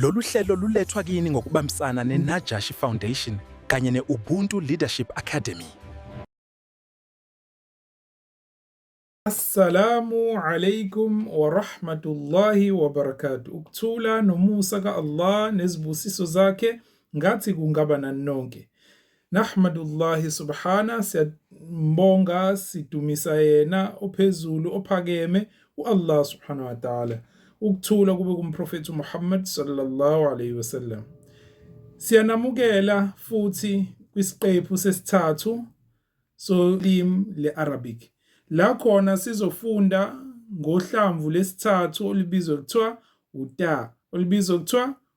Lolu hlelo lulethwa kini ngokubambisana neNajashi Foundation kanye ne-Ubuntu Leadership Academy. Assalamu alaikum warahmatullahi wabarakatuh. Ukuthula nomusa ka-Allah nezibusiso zakhe ngathi kungaba nani nonke. Nahmadullahi subhana, siyambonga sidumisa yena ophezulu ophakeme uAllah subhanahu wa ta'ala. Ukuthula kube kumprofethi uMuhammad sallallahu alayhi wasallam. Siyanamukela futhi kwisiqephu sesithathu solimi leArabic. La khona sizofunda ngohlamvu lesithathu olibizwa kuthiwa uta, olibizwa kuthiwa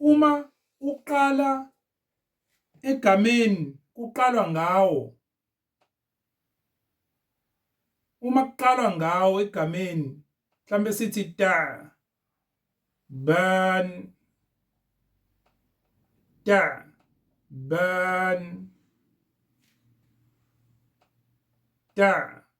Uma uqala egameni kuqalwa ngawo. Uma kuqalwa ngawo egameni mhlambe sithi ta ban ta ban ta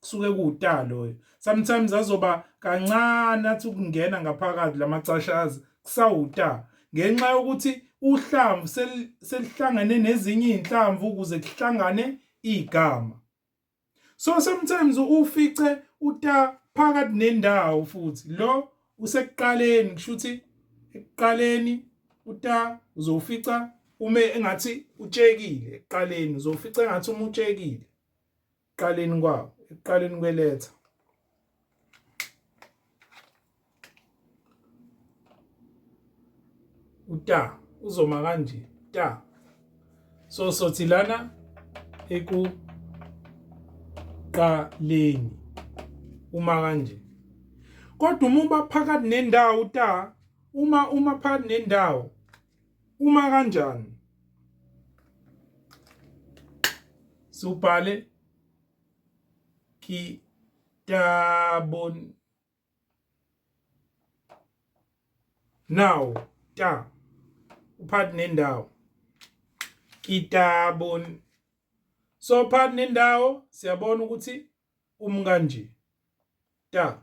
kusuke kuwuta loyo sometimes azoba kancane athi ukungena ngaphakathi lamacashazi kusawuta ngenxa yokuthi uhlamvu selihlangane nezinye izinhlamvu ukuze kuhlangane igama so sometimes ufice uta phakathi nendawo futhi lo usekuqaleni kushuthi ekuqaleni uta uzofica ume engathi utshekile ekuqaleni uzofica engathi umutshekile ekuqaleni kwawo ekuqaleni kweletha uta uzoma kanje ta so sothi lana ekuqaleni uma kanje kodwa uma uba phakathi nendawo uta uma uma phakathi nendawo Uma kanjani? Siwubhale kitabun now ta uphathi nendawo kitabun so phathi nendawo siyabona ukuthi umkanje ta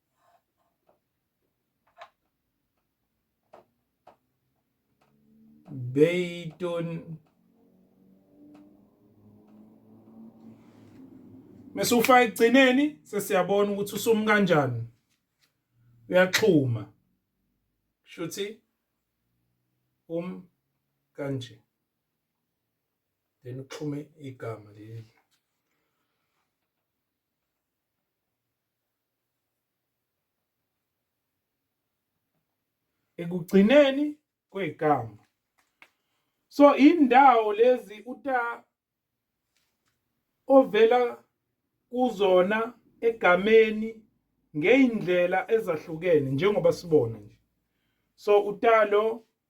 Beyton Mesufaka ekugcineni sesiyabona ukuthi usumi kanjani uyaxhuma shuthi um kanje then uxhume igama leli ekugcineni kwegama so indawo lezi uta ovela kuzona egameni ngeindlela ezahlukene njengoba sibona nje so utalo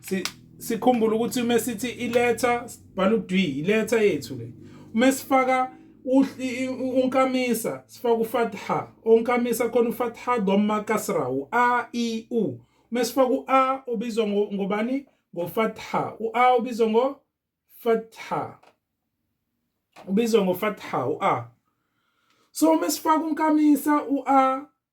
si sikhumbula ukuthi uma sithi iletha sibhala udwi iletha yethu le uma sifaka unkamisa sifaka ufatha onkamisa khona ufatha dhamma kasra u a i u uma sifaka u a ubizwa ngobani ngofatha u a ubizwa ngo fatha ubizwa ngofatha u a so uma sifaka unkamisa u a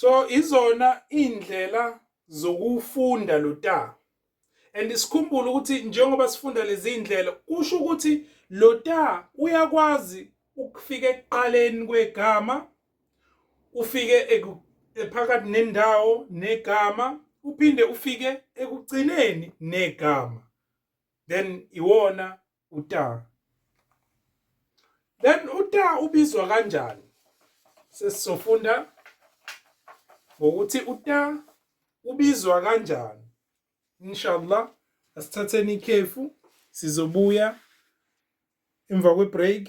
so izona indlela zokufunda lo ta and sikhumbule ukuthi njengoba sifunda lezi indlela kusho ukuthi lo ta uyakwazi ukufika ekuqaleni kwegama ufike phakathi nendawo negama uphinde ufike ekugcineni negama then iwona uta then uta ubizwa kanjani sesizofunda ngokuthi uta ubizwa kanjani inshallah asithatheni ikhefu sizobuya emva kwe-break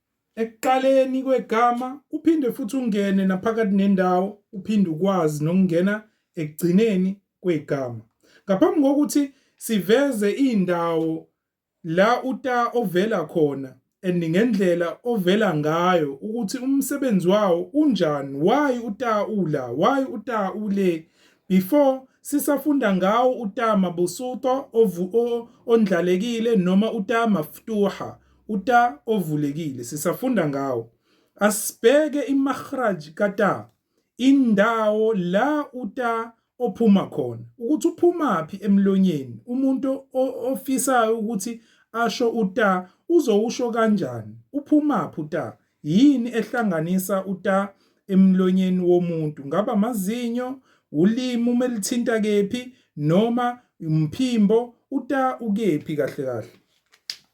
ekuqaleni kwegama uphinde futhi ungene naphakathi nendawo uphinde ukwazi nokungena ekugcineni kwegama ngaphambi kokuthi siveze indawo la uta ovela khona and ngendlela ovela ngayo ukuthi umsebenzi wawo unjani why uta ula why uta ule before sisafunda ngawo uta mabusuto ondlalekile noma uta maftuha uta ovulekile sisafunda ngawo asibheke imakhraj kata indawo la uta ophuma khona ukuthi uphumaphi emlonyeni umuntu ofisayo ukuthi asho uta uzowusho kanjani uphumaphi uta yini ehlanganisa uta emlonyeni womuntu ngaba amazinyo ulimi uma lithinta kephi noma umphimbo uta ukephi kahle kahle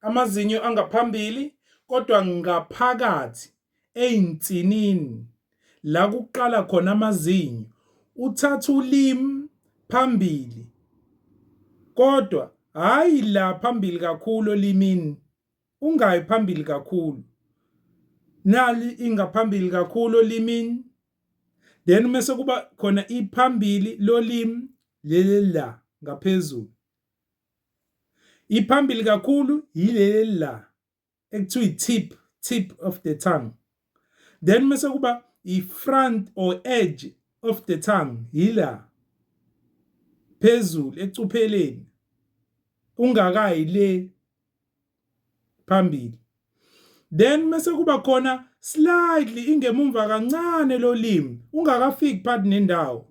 amazinyo angaphambili kodwa ngaphakathi eyinsinini la kuqala khona amazinyo uthatha ulimi phambili kodwa hhayi la phambili kakhulu olimini ungayi phambili kakhulu nali ingaphambili kakhulu olimini then mese kuba khona iphambili lolimi leli la ngaphezulu Iphambili kakhulu yileli la ekuthiwa i-tip tip of the tongue then mese kuba i-front or edge of the tongue yila phezulu ecupheleni ungakayi le phambili then mase kuba khona slightly ingemumva kancane lolimi ungakafiki part nendawo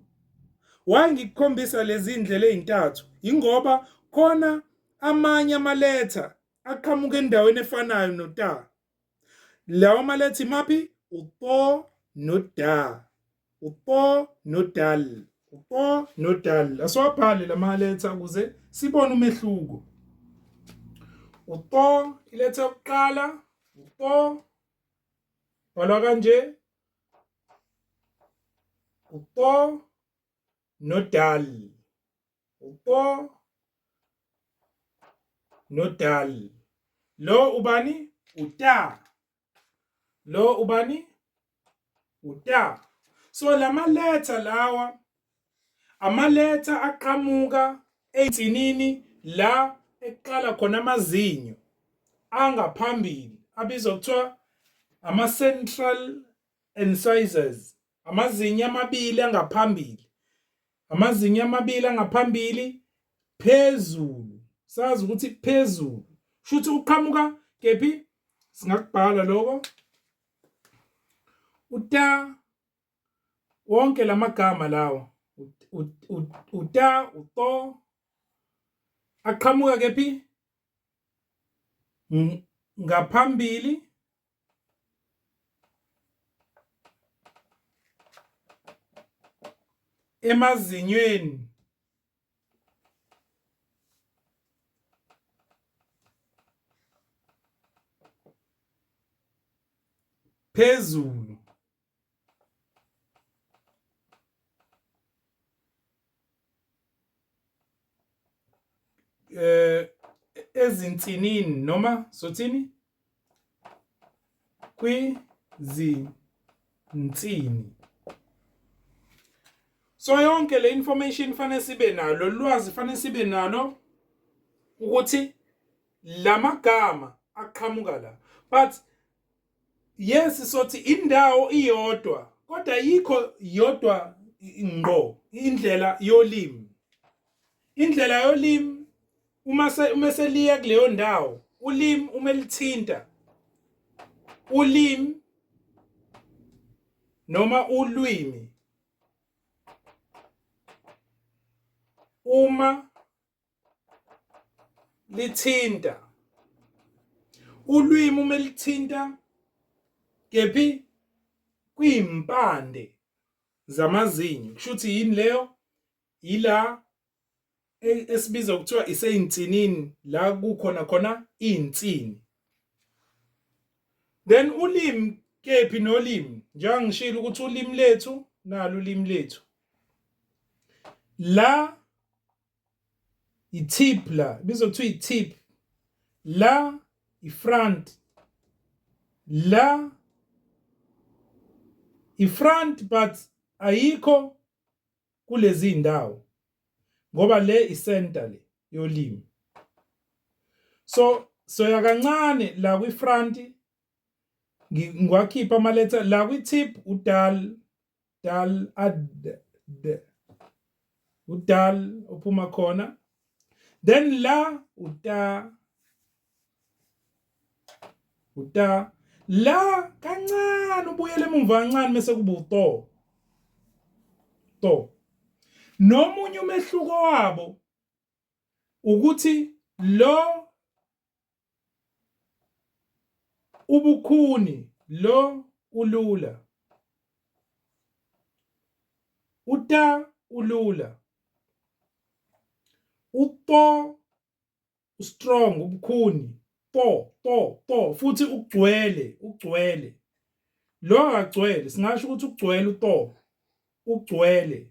why ngikukhombisa lezi ndlela ezintathu ingoba khona amanye amaletha aqhamuka endaweni efanayo nota lawo malethi maphi upo noda upo nodal upo nodal asowabhale lamaletha ukuze sibone umehluko upo iletha yokuqala upo bhalwa kanje upo nodal upo nodal lo ubani uta lo ubani uta so lama letter lawa ama letter aqhamuka einsinini la eqala khona amazinyo angaphambili abizwa kuthiwa ama central incisors amazinyo amabili angaphambili amazinyo amabili angaphambili phezulu sazi ukuthi phezulu shuthi uqhamuka kephi singakubhala lokho uta wonke lamagama lawo uta uto aqhamuka kephi ngaphambili emazinyweni phezulu eh ezinsinini noma sothini kwizinsini so yonke le information fanele sibe nalo lwazi fanele sibe nalo ukuthi lamagama aqhamuka la but yes sothi indawo iyodwa kodwa yikho yodwa ngqo indlela yolimi indlela yolimi uma se uma seliya kuleyo ndawo ulimi uma lithinta ulimi noma ulwimi uma lithinta ulwimi uma lithinta kephi kwimpande zamazinyo kusho ukuthi yini leyo yila e-, esibiza kuthiwa iseyinsinini la kukhona khona insini then ulimi kephi nolimi njengoba ngishilo ukuthi ulimi lethu nalo ulimi lethu la i-tip la ibizwa kuthiwa i-tip la i-front la i-front but ayikho kulezi ndawo ngoba le i-center le yolimi so soya kancane la kwi-front ngiwakhipha amaletha la kwi-tip udal dal ad d udal uphuma khona then la uta uta la kancane ubuyele emumva kancane mase kuba uto to nomunye umehluko wabo ukuthi lo Ubukhuni lo ulula. Uta ulula. Upo strong ubukhuni po po po futhi ugcwele ugcwele lo akagcwele singasho ukuthi ugcwele upo ugcwele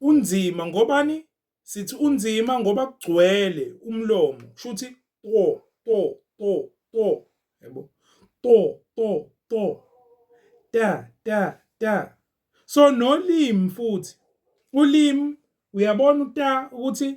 Unzima ngobani? Sithi unzima ngoba kugcwele umlomo. Shuthi to to to to. Yebo. To to to. Ta ta ta. So nolimi futhi. Ulimi uyabona uta ukuthi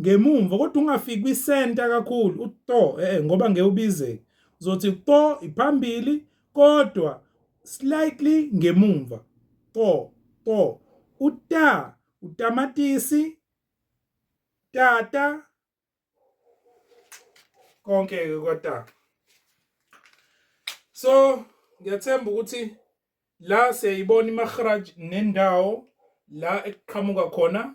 ngemumva kodwa ungafiki kwisenta kakhulu uto eh, eh ngoba ngeke ubizeke uzothi to iphambili kodwa slightly ngemumva to to uta utamatisi tata konke ke kwata so ngiyathemba ukuthi la siyayibona imahraj nendawo la ekuqhamuka khona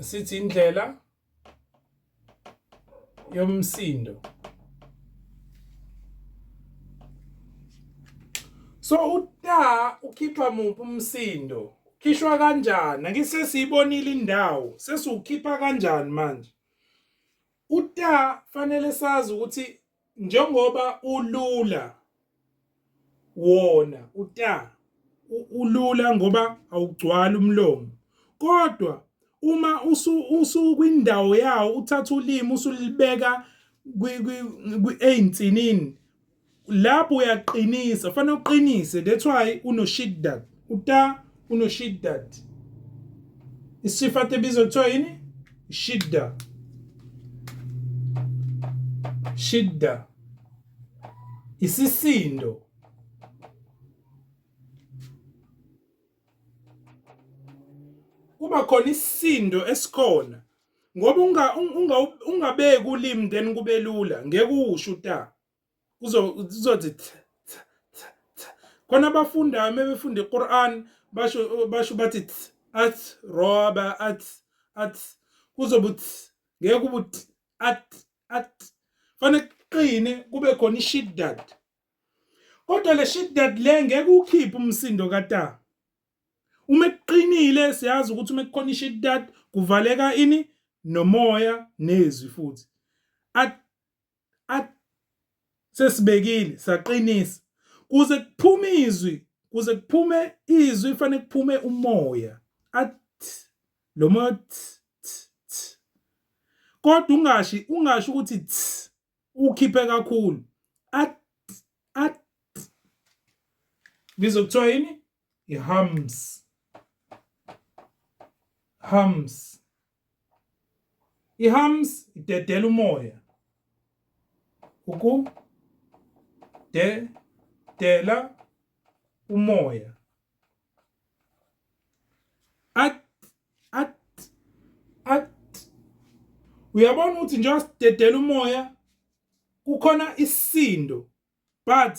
sithi indlela yomsindo so uta ukhipha muphi umsindo khishwa kanjani ake sesiyibonile indawo sesiwukhipha kanjani manje uta fanele sazi ukuthi njengoba ulula wona uta ulula ngoba awugcwali umlomo kodwa uma usukwindawo yawo uthatha ulimi usulibeka ey'nsinini lapho uyaqinisa fanele uqinise that's why unoshidda uta unoshiddat isifat ebizwa kuthiwa yini shidda shidda isisindo kuba khona isisindo esikhona ngoba unga ungabeki ulimi then kube lula ngeke usho uta kuzothi khona abafundayo uma befunda iquran basho basho bathi at roba at at kuzobe ngeke kube at at fanele kuqine kube khona ishiddad kodwa le shiddad le ngeke ukhiphe umsindo kata uma kuqinile siyazi ukuthi uma kukhona ishiddad kuvaleka ini nomoya nezwi futhi at sesibekile saqinisa kuze kuphume izwi kuze kuphume izwi fanele kuphume umoya athi lo moya kodwa ungashi ungashi ukuthi ukhiphe kakhulu at at bizokuthiwa yini i-hams hams i-hams idedela umoya uku de dela umoya at at at uyabona ukuthi njengoba sidedela umoya kukhona isindo but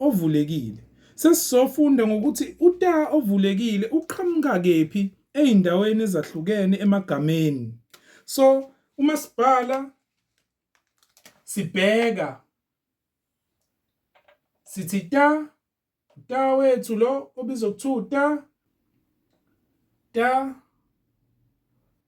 ovulekile. Sesizofunda ngokuthi uta ovulekile uqhamuka kephi ezindaweni ezahlukene emagameni. So uma sibhala sibheka sithi ta ta wethu lo obizwa kuthiwa ta ta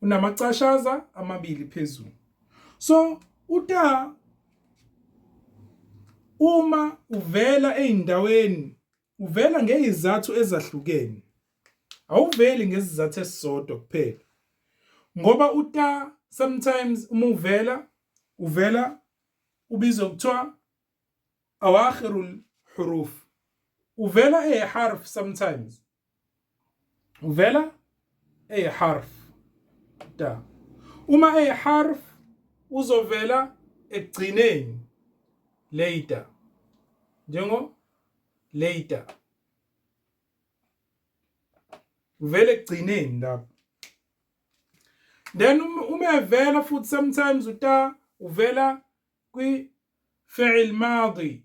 unamacashaza amabili phezulu so uta uma uvela ezindaweni uvela ngezizathu ezahlukene awuveli ngezizathu esisodwa kuphela ngoba uta sometimes uma uvela uvela ubizwa kuthiwa awakhirul huruf uvela eharf sometimes uvela eharf ta uma eharf uzovela ekugcineni later njengo later uvele ekugcineni lapho then um, uma evela futhi sometimes uta uvela kwi fi'il madi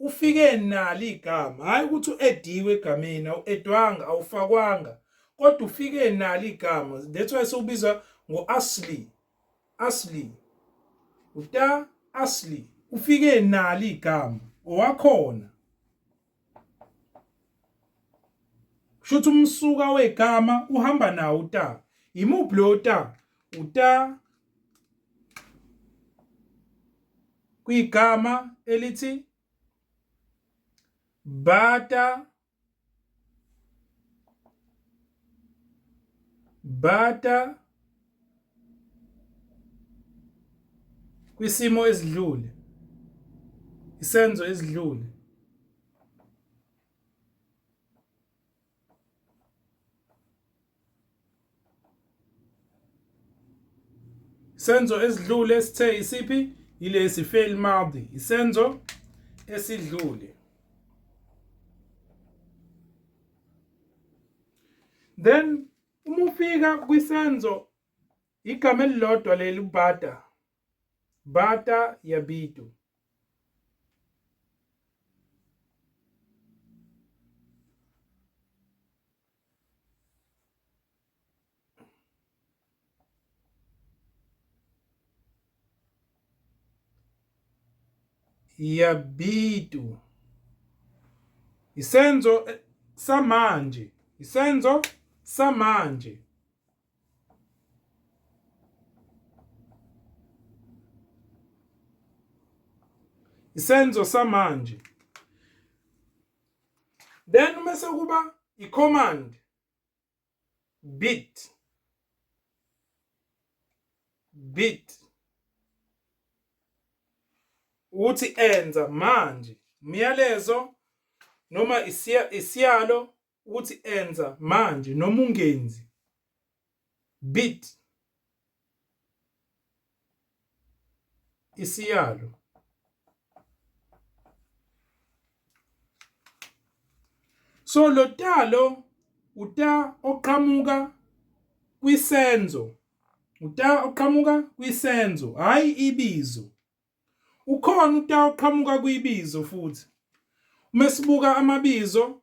Ufike nalo igama, hhayi ukuthi u-ediwe egameni, awu-edwanga, awufakwanga, kodwa ufike nalo igama. That's why sewubiza ngo-asli, asli, uta asli, ufike nalo igama, owakhona. Kusho ukuthi umsuka wegama uhamba nawo uta. Yimuphi lo ta? Uta kwigama elithi bata bata kwisimo esidlule isenzo esidlule Senzo esidlule sithe isiphi yilesi fail madi isenzo esidlule then uma ufika kwisenzo igama elilodwa leli ubhada Bata ya Bitu. ya Bitu. Isenzo eh, samanje. Isenzo samanje. isenzo samanje then uma sekuba i-command bit bit ukuthi enza manje umyalezo noma isiyalo ukuthi enza manje noma ungenzi bit isiyalo so lo talo uta oqhamuka kwisenzo uta oqhamuka kwisenzo hayi ibizo ukhona uta oqhamuka kwibizo futhi uma sibuka amabizo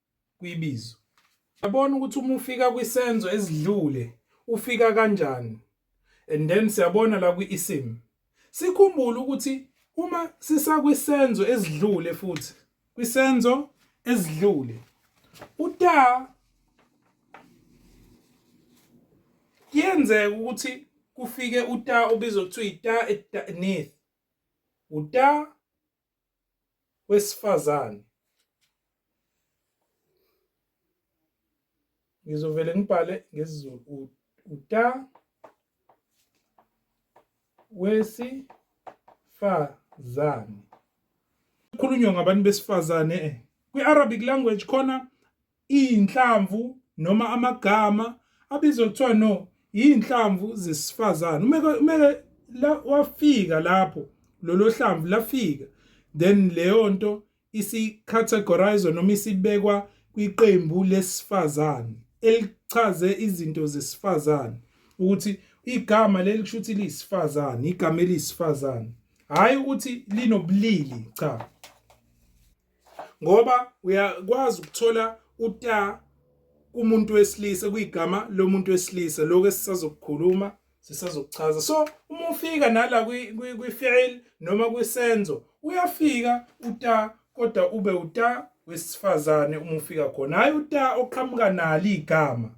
kwibizo. Yabona ukuthi uma ufika kwisenzo esidlule ufika kanjani and then siyabona la kwi-isim sikhumbule ukuthi uma sisakwisenzo esidlule futhi kwisenzo esidlule uta kuyenzeka ukuthi kufike uta obizwa kuthiwa ita etnith uta wesifazane ngizovele ngibhale ngesizulu uta wesifazane kukhulunywa ngabantu besifazane eh, kwi-arabic language khona iyinhlamvu noma amagama abizwa kuthiwa no iyinhlamvu zesifazane umeke umeke la wafika lapho lolo hlamvu lafika then leyo nto isicategorizwa noma isibekwa kwiqembu lesifazane elichaze izinto zesifazane ukuthi igama leli kusho ukuthi liyisifazane igama elisifazane hhayi ukuthi linobulili cha ngoba uyakwazi ukuthola uta kumuntu wesilisa kuyigama lomuntu wesilisa lokho esisazokukhuluma sisazokuchaza so uma ufika nala kwi-fi'il noma kwisenzo uyafika uta kodwa ube uta wesifazane uma ufika khona hhayi uta oqhamuka nalo igama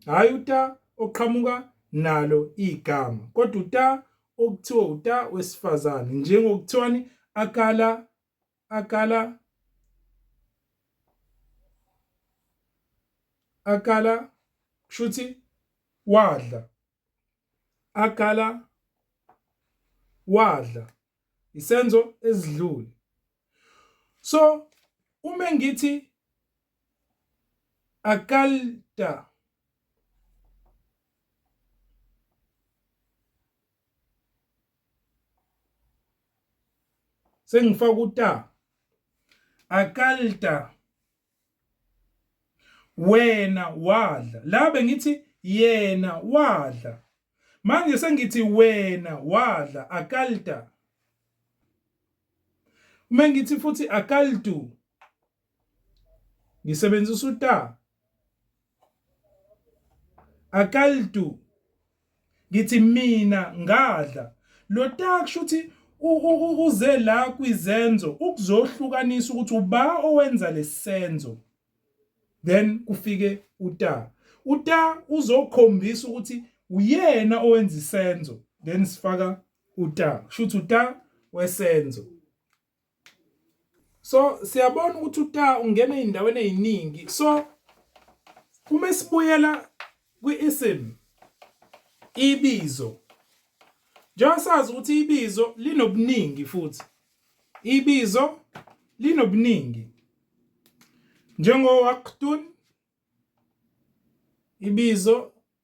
hhayi uta oqhamuka nalo igama kodwa uta okuthiwa uta wesifazane njengokuthiwani akala aqala aqala kushuthi wadla aqala wadla isenzo esidlule so uma ngithi akalta sengifaka uta akalta wena wadla la bengithi yena wadla manje sengithi wena wadla akalta uma ngithi futhi akaltu ngisebenzisa uta akaltu ngithi mina ngadla lo ta kusho ukuthi uze la kwizenzo ukuzohlukanisa ukuthi uba owenza lesenzo then kufike uta uta uzokhombisa ukuthi uyena owenza isenzo then sifaka uta kusho ukuthi uta wesenzo so siyabona ukuthi uta ungena ezindaweni eziningi so uma esibuyela kwi-isim ibizo njengoba sazi ukuthi ibizo linobuningi futhi ibizo linobuningi njengowaqtun ibizo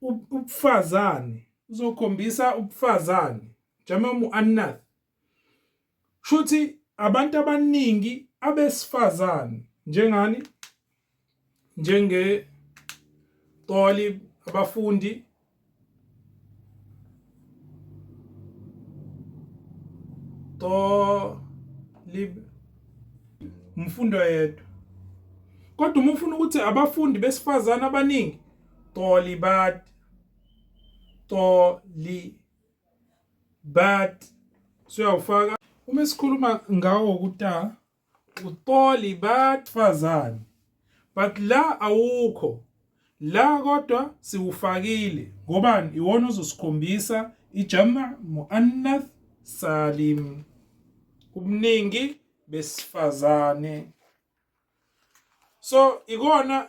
ubufazane uzokhombisa ubufazane jama muannath shuthi abantu abaningi abesifazane njengani njenge talib abafundi to lib umfundo yedwa kodwa uma ufuna ukuthi abafundi besifazane abaningi to libat to li bat siyawufaka uma sikhuluma ngawo kuta utolibat fazane but la awukho la kodwa siwufakile ngobani iwona ozosikhombisa ijama muannath salim ubuningi besifazane so ikona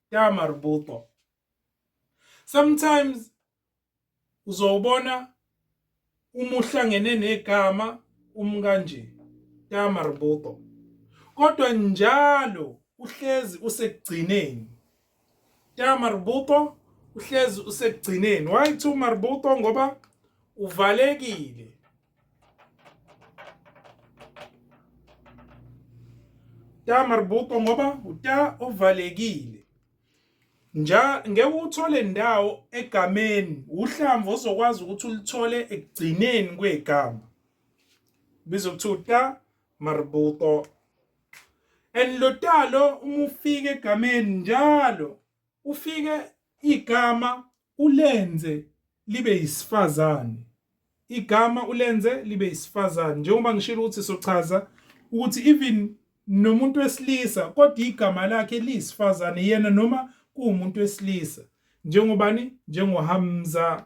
ya marbuto sometimes uzowubona uma uhlangene negama umkanje ya marbuto kodwa njalo uhlezi usekugcineni ya marbuto uhlezi usekugcineni why to marbuto ngoba uvalekile ta marbuto ngoba uta ovalekile nja ngeke uthole ndawo egameni uhlamvu ozokwazi ukuthi ulithole ekugcineni kwegama bizo kuthiwa uta marbuto and lo talo uma ufika egameni njalo ufike igama ulenze libe yisifazane igama ulenze libe isifazane njengoba ngishilo ukuthi sochaza ukuthi even nomuntu wesilisa kodwa igama lakhe liyisifazane yena noma kuwumuntu wesilisa njengobani njengoHamza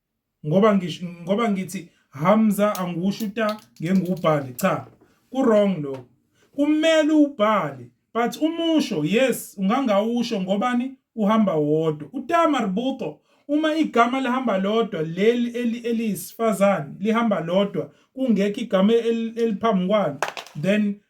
ngoba ngisho ngoba ngithi Hamza angiwusho uta ngengubhali cha kurong lo kumele ubhale but umusho yes ungangawusho ngobani uhamba wodwa uta marbuto uma igama lihamba lodwa leli eliyisifazane lihamba lodwa kungekho igama eliphambi kwalo then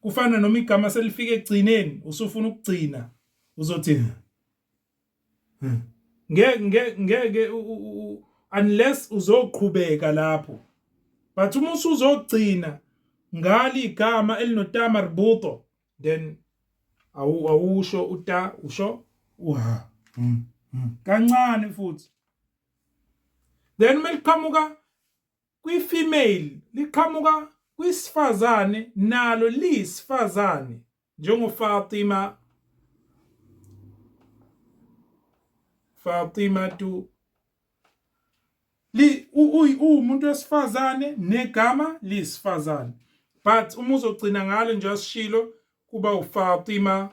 kufana noma igama selifika ekugcineni usufuna ukugcina uzothi hmm. ngeke ngeke unless uzoqhubeka lapho but uma usuzogcina ngale igama elinota marbuto then awu awusho uta usho uha hmm, hmm. kancane futhi then uma liqhamuka Kwi-female liqhamuka kwisifazane nalo liyisifazane njengoFatima Fatima tu li uwumuntu wesifazane negama liyisifazane but uma uzogcina ngalo nje asishilo kuba uFatima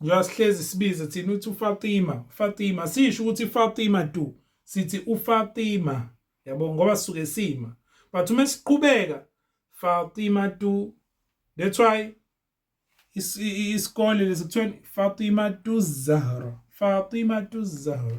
njengoba sihlezi sibize thina uthi uFatima Fatima sisho ukuthi Fatima du sithi uFatima yabo ngoba sisuke sima but uma siqhubeka Fatima du that's why isikole lesikuthiwa Fatima du Zahra Fatima du Zahra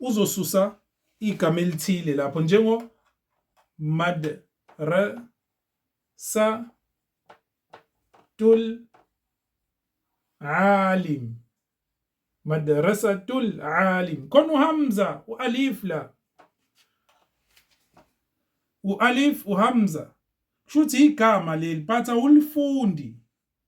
uzosusa igama elithile lapho njengo mad re sa tul alim madrasatul alim khona uhamza ualif la ualif uhamza kushuthi igama leli but awulifundi